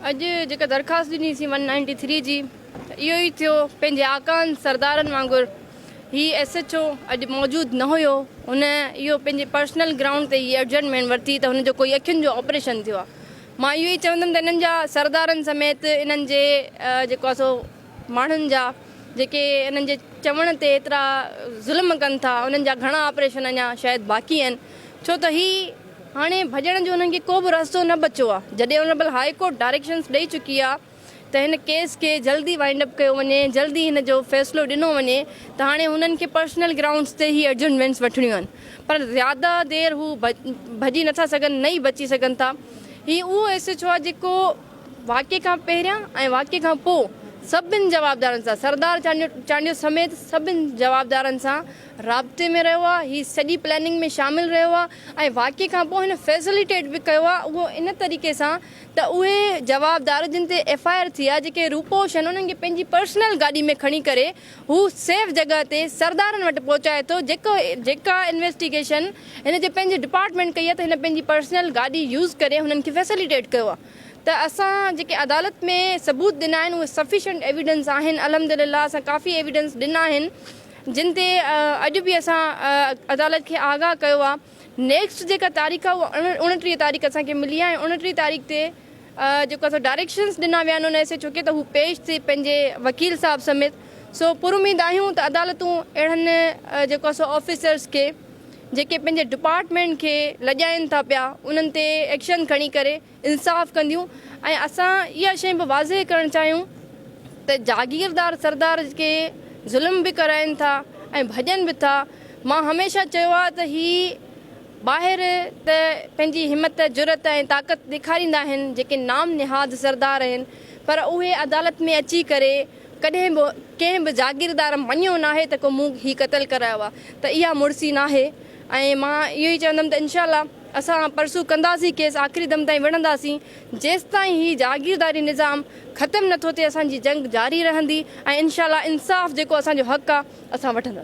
اڄ جيڪا درخواست ڏني سين ون نائنٽي ٿري جي ته اهو ئي ٿيو پنهنجي آقائن سردارن وانگر هي ايس ايڇ او اڄ موجود نه هيو هن اهو پنهنجي پرسنل گرائونڊ تي هي ارجنٽ مين ورتي ته هن جو ڪوئي اکين جو آپريشن ٿيو آ مان اهو ئي چوندم ته انهن جا سردارن سميت انهن جي جيڪو آ سو ماڻهن جا جيڪي انهن جي چوڻ تي ايترا ظلم ڪن ٿا انهن جا گهڻا آپريشن اڃا شايد باقي آهن ڇو ته هي هاڻي ڀڄڻ جو انهن کي ڪو به رستو نه بچو آهي جڏهن آنريبل هاء ڪورٽ ڊائريڪشنز ڏئي چڪي آهي ته هن ڪيس کي جلدي وائنڊ اپ ڪيو وڃي ۽ جلدي هن جو فيصلو ڏنو وڃي ته هاڻي هنن کي پرسنل گرائونڊز تي هي ايڊجرنمينٽس وٺڻيون آهن پر زياده دير هو ڀڄي نٿا سگهن نه ئي بچي سگهن ٿا هي اهو ايس ايڇ او آهي جيڪو واقعي کان پهريان ۽ واقعي کان پوء سڀن جوابدارن سان سردار چانڊيو سميت سڀن جوابدارن سان رابطي ۾ رهيو آهي، هي سڄي پلاننگ ۾ شامل رهيو آهي ۽ واقعي کان پوء هن فيسليٽيٽ به ڪيو آهي اهو ان طريقي سان ته اهي جوابدار جن تي ايف آء آر ٿي آهي جيڪي روپوش آهن انهن کي پنهنجي پرسنل گاڏي ۾ کڻي ڪري هو سيف جڳهه تي سردارن وٽ پهچائي ٿو جيڪو جيڪا انويسٽيگيشن هن جي پنهنجي ڊپارٽمينٽ ڪئي آهي ته هن پنهنجي پرسنل گاڏي يوز ڪري هنن کي فيسليٽيٽ ڪيو آهي ته اسان جيڪي عدالت ۾ ثبوت ڏنا آهن اهي سفيشنٽ ايويڊنس آهن الحمدلله اسان ڪافي ايويڊنس ڏنا آهن جن تي اڄ به اسان عدالت کي آگاهه ڪيو آ نيڪسٽ جيڪا تاريخ آ اها اوڻٽيهه تاريخ اسان کي ملي آ ۽ اوڻٽيهه تاريخ تي جيڪو اسان ڊائريڪشنس ڏنا ويا آهن ان ايس ايچ او کي ته هو پيش ٿئي پنهنجي وڪيل صاحب سميت سو پر اميد آهيون ته عدالتون اهڙن جيڪو اسان آفيسرس کي جيڪي پنهنجي ڊپارٽمينٽ کي لڄائين ٿا پيا انهن تي ايڪشن کڻي ڪري انصاف ڪنديون ۽ اسان اها شيء به واضح ڪرڻ چاهيون ته جاگيردار سردار ڪي ظلم به ڪرائين ٿا ۽ ڀڄن به ٿا مان هميشه چيو آهي ته هي ٻاهر ته پنهنجي همت جرئت ۽ طاقت ڏيکاريندا آهن جيڪي نام نهاد سردار آهن پر اهي عدالت ۾ اچي ڪري ڪڏهن به ڪنهن به جاگيردار مڃيو ناهي ته ڪو مون هي قتل ڪرايو آهي ته اها مڙسي ناهي ۽ مان اهو ئي چوندم ته انشاء الله اسان پرسو ڪنداسين کيس آخري دم تائين وڙهنداسين جيستائين هي جاگيرداري نظام ختم نٿو ٿئي اسان جي جنگ جاري رهندي ۽ انشاء الله انصاف جيڪو اسان جو حق آ اسان وٺنداسين.